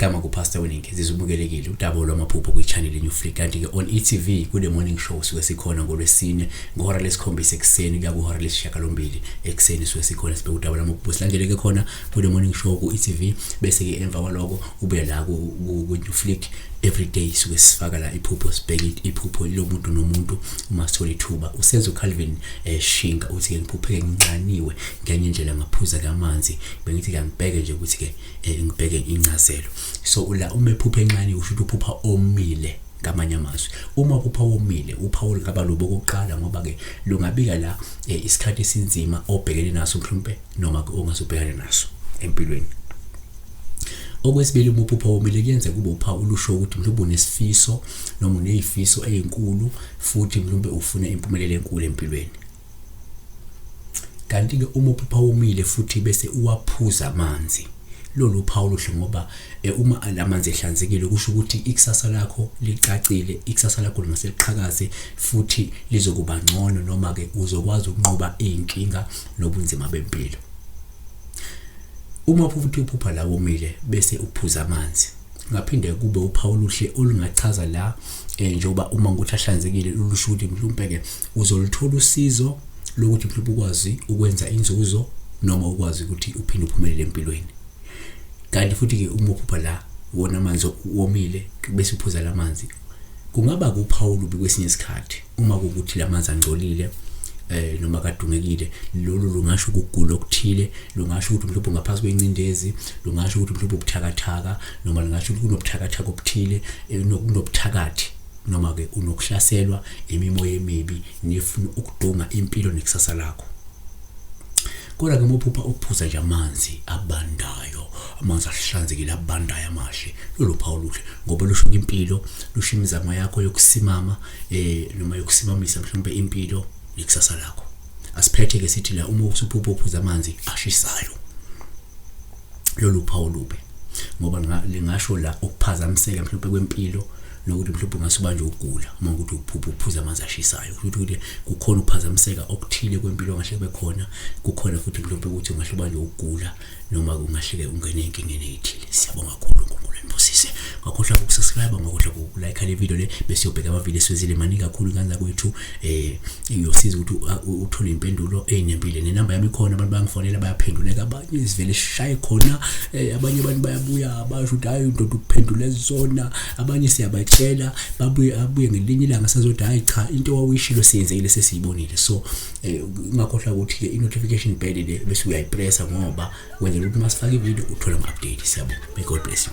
igama kupastor weningi zizubukelekile udaba lwamaphupho kwichannel new free kanti-ke on etv kule morning show suke sikhona ngolwesine ngehora lesikhombisa ekuseni kuya kwihora lesishiyagalombili ekuseni suke sikhona sibheke udaba lwamaphupho silandeleke khona kule morning show ku-etv bese-ke emva kwaloko ube la ku-new flick everyday suke sifaka la iphupho sibheke iphupho lomuntu nomuntu uma sithola ithuba usenzo Calvin eh, shinga uthi ke ngiphupheke nginqaniwe ngenye indlela ngaphuza kamanzi bengithi ke ngibheke nje ukuthi ke eh, ngibheke incazelo so la uma ephuphe encane usho ukuthi uphupha omile ngamanye amazwi uma upha womile upha olungaba lobo kokuqala ngoba ke lungabika la eh, isikhathi esinzima obhekene naso mhlawumbe noma ongase ubhekane naso empilweni okwesibili uma uphupha womile kuyenza kube uphawu olusho ukuthi mhlawumbe unesifiso noma uneyifiso ezinkulu futhi mhlawumbe ufuna impumelelo enkulu empilweni kanti ke uma uphupha womile futhi bese uwaphuza amanzi lolu phawu luhle ngoba eh, uma lamanzi ehlanzekile kusho ukuthi ikusasa lakho licacile ikusasa lakho lingaseliqhakaze futhi lizokuba ngcono noma ke uzokwazi ukunqoba izinkinga nobunzima bempilo. Uma uphupha uphupha la womile bese uphuza amanzi ngaphinde kube uphawu oluhle olungachaza la eh, njengoba uma ngokuthi ahlanzekile lulusho ukuthi mhlawumbe-ke uzoluthola usizo lokuthi mhlawumbe ukwazi ukwenza inzuzo noma ukwazi ukuthi uphinde uphumelele empilweni kanti futhi-ke uma uphupha la wona amanzi womile bese uphuza la manzi kungaba kuphawu lubi kwesinye isikhathi uma kukuthi lamanzi angcolile eh noma kadungekile lolu lungasho ukugula okuthile lungasho ukuthi mhlawumbe ngaphansi kwencindezi lungasho ukuthi mhlawumbe ubuthakathaka noma lungasho ukuthi kunobuthakathaka obuthile eh, kunobuthakathi noma ke unokuhlaselwa imimoya emibi nefuna ukudunga impilo nekusasa lakho kodwa ke mophupha ukuphuza nje amanzi abandayo amanzi ahlanzekile abandayo amahle lolu phawu luhle ngoba lusho impilo lusho imizamo yakho yokusimama eh noma yokusibamisa mhlawumbe impilo nekusasa lakho asiphethe ke sithi la uma usuphupha uphuza amanzi ashisayo lolu phawu lube ngoba lingasho la ukuphazamiseka mhlawumbe kwempilo nokuthi mhlawumbe ungase ubanje ukugula uma ukuthi uphupha uphuza amanzi ashisayo futhi ukuthi kukhona ukuphazamiseka okuthile kwempilo ngahle kube khona kukhona futhi mhlawumbe ukuthi ungahle ubanje ukugula noma kungahleke ungene enkingeni eyithile siyabonga kakhulu uNkulunkulu enibusise ngakhohlwa ukusubscribe ngakhohlwa ukulike le video le bese uyobheka amavideo esiwezile maningi kakhulu kanza kwethu eh uyosiza ukuthi uthole impendulo ezinempilo nenamba yami khona abantu bangifonela bayaphenduleka abanye izivele shaye khona eh, abanye abantu bayabuya basho ukuthi hayi ndoda ukuphendula ezona abanye siyabatshela babuye abuye ngelinye ilanga sazothi hayi cha into wawuyishilo siyenzekile sesiyibonile so Eh, ungakhohlwa ukuthi-ke i-notification bell le bese uyayipressa ngoba wenzela ukuthi uma sifake ividiyo uthole ama-update siyabo may god bless you